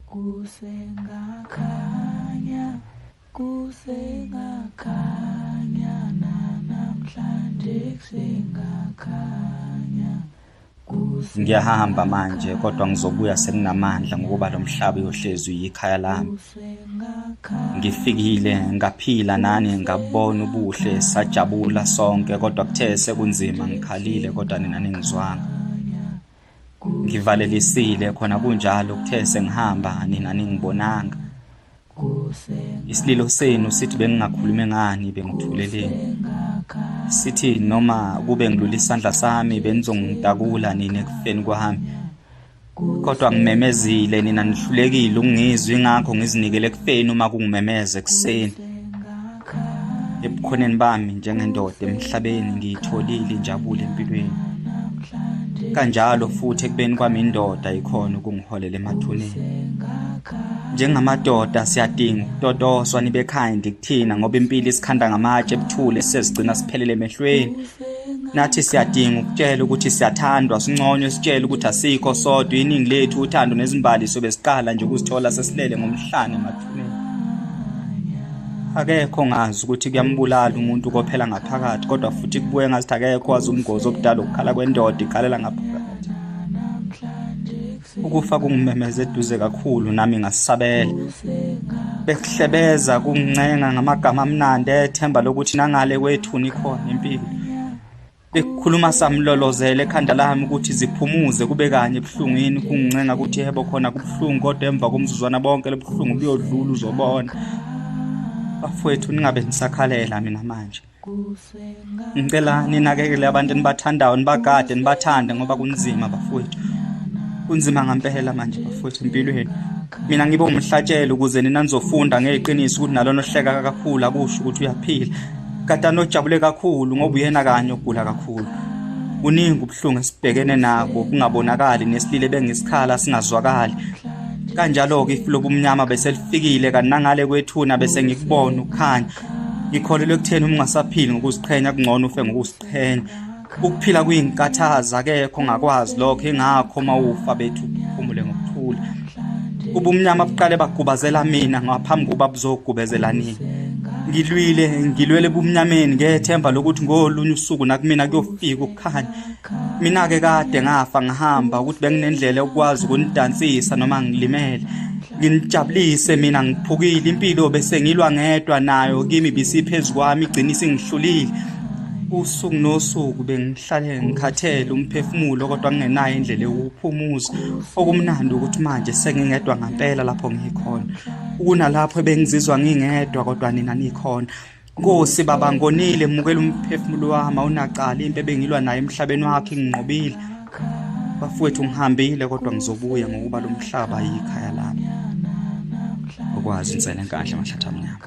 kusengakhanya kusengakhanya nanamhlanje kusengakhanya ngiyahamba manje kodwa ngizobuya sekunamandla ngokuba lo mhlaba uyohlezi uyikhaya lami ngifikile ngaphila nani ngabona ubuhle sajabula sonke kodwa kuthe sekunzima ngikhalile kodwa nina ningizwanga ngivalelisile khona kunjalo kuthe sengihamba nina ningibonanga isililo senu sithi bengingakhulumi ngani bengithuleleni sithi noma kube ngilula isandla sami benizongitakula nina ekufeni kwami kodwa ngimemezile nina nihlulekile ukungizwa ingakho ngizinikele ekufeni uma kungimemeza ekuseni ebukhoneni bami njengendoda emhlabeni ngiyitholile injabulo empilweni kanjalo futhi ekubeni kwami indoda ikhona ukungiholela emathuneni njengamadoda siyadinga ukutotoswa nibe kind kuthina ngoba impilo isikhanda ngamatshe ebuthule sezigcina siphelele emehlweni nathi siyadinga ukutshela ukuthi siyathandwa sinconywe sitshele ukuthi asikho sodwa iningi lethu uthando nezimbali sobe siqala nje ukuzithola sesilele ngomhlane emathuneni akekho ngazi ukuthi kuyambulala umuntu kophela ngaphakathi kodwa futhi kubuye ngazithi akekho wazi umgozi obudala ukukhala kwendoda ikhalela ngaphakathi ukufa kungimemeza eduze kakhulu nami ngasabela bekuhlebeza kungincenga ngamagama amnandi ethemba lokuthi nangale kwethuni khona impilo Bekukhuluma samlolozela ekhanda lami ukuthi ziphumuze kube kanye ebuhlungwini kungincenga ukuthi yebo khona kubuhlungu kodwa emva komzuzwana bonke lobuhlungu buyodlula uzobona. Bafowethu ningabe nisakhalela mina manje. Ngicela ninakekele abantu enibathandayo nibagade nibathande ngoba kunzima bafowethu. Kunzima ngempela manje bafowethu empilweni. Mina ngibe umhlatshelo ukuze nina nizofunda ngeqiniso ukuthi nalona ohleka kakhulu akusho ukuthi uyaphila. Katana ojabule kakhulu ngoba uyena kanye ogula kakhulu. Kuningi ubuhlungu esibhekene nabo kungabonakali nesilile bengisikhala singazwakali. Kanjalo-ke ifu lobumnyama beselifikile kanangale kwethuna bese ngikubona ukukhanya. Ngikholelwa ekutheni uma ungasaphili ngokuziqhenya kungcono ufe ngokuziqhenya. ukuphila kuyinkathaz akekho ngakwazi lokho ingakho uma ufa bethu phumule ngokuthula ubumnyama buqale bagubazela mina ngaphambi kokuba buzogubezela nini ngilwile ngilwele bumnyameni ngethemba lokuthi ngolunye usuku nakumina kuyofika ukukhanya mina-ke kade ngafa ngihamba ukuthi benginendlela yokukwazi ukunidansisa noma ngilimele nginijabulise mina ngiphukile impilo bese ngilwa ngedwa nayo kimi bisiphezu kwami igcina isingihlulile usuku nosuku bengihlale ngikhathele umphefumulo kodwa ngingenayo indlela yokuphumuza okumnandi ukuthi manje sengingedwa ngampela lapho ngikhona ukunalapho ebengizizwa ngingedwa kodwa nina nikhona Nkosi baba ngonile mukela umphefumulo wami awunacala impi ebengilwa nayo emhlabeni wakhe nginqobile bafowethu ngihambile kodwa ngizobuya ngokuba lo mhlaba yikhaya lami ukwazi insela enkandla mahlathi amnyama